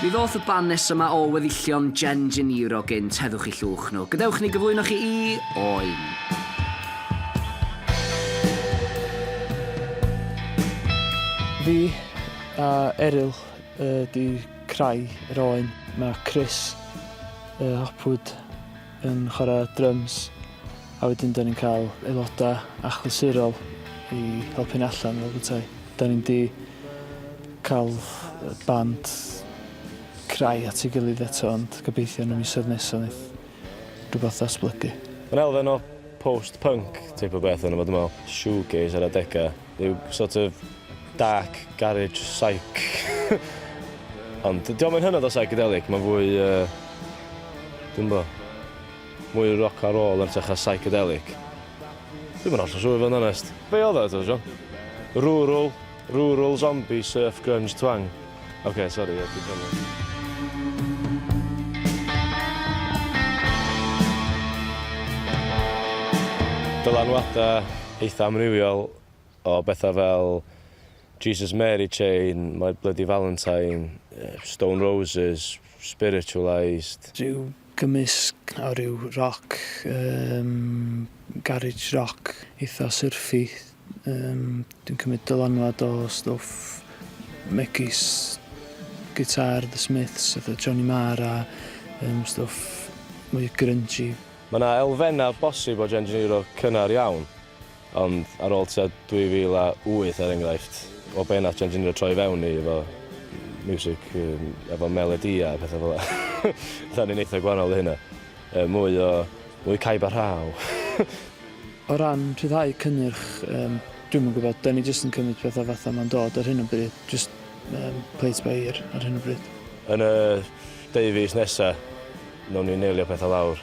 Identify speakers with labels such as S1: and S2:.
S1: Mi ddoth y band nesa 'ma o weddillion Jen Geniro gynt, heddwch i llwch nhw. Gadewch ni gyflwyno chi i Oen.
S2: Fi a Eryl ydi crai yr Oen. Ma' Chris, yy Hopwood, yn chwarae dryms a wedyn dan ni'n cael aelodau achlysurol i helpu ni allan fel bwytai. Dan ni'n di cael band crai at ei gilydd eto ond gobeithio yn y misoedd nesaf wneith rhywbeth ddatblygu. Mae'n elfen o
S3: post-punk teip o beth ynddo fo dwi'n meddwl, shoegaze ar adegau. Rhyw sort of dark garage psych. Ond diolch yn hynod o psychedelic, mae'n fwy... Uh, Dwi'n bo. Mwy rock a roll yn tech a psychedelic. Dwi'n mynd allan siŵr i fod yn onest. Be oedd o eto, John? Rural, rural zombie surf grunge twang. Ok, sorry, ie, dwi'n cofio. Dylanwadau eitha amrywiol o bethau fel Jesus Mary Chain, My Bloody Valentine, Stone Roses, Spiritualised. Rhyw
S2: Gymysg o ryw roc, yym garage roc eitha syrffy, yym dwi'n cymryd dylanwad o stwff megis gitar The Smiths fatha Johnny Marr a yym stwff mwy grungy. Mae 'na elfennau
S3: bosib o Gen Janeiro cynnar iawn. Ond ar ôl tua 2008 er enghraifft, o be' nath Gen Ginio troi fewn i efo miwsig yym efo melodïa a petha fel 'a. 'Dan ni'n eitha gwahanol i hynna. Yy mwy o mwy caib a rhaw.
S2: O ran rhyddhau cynnyrch yym dwi'm yn gwbod, 'dan ni jyst yn cymryd petha fatha ma'n dod ar hyn o bryd, jyst yym play it by ear ar hyn o bryd. Yn y
S3: deu fis nesa, newn ni neilio petha lawr.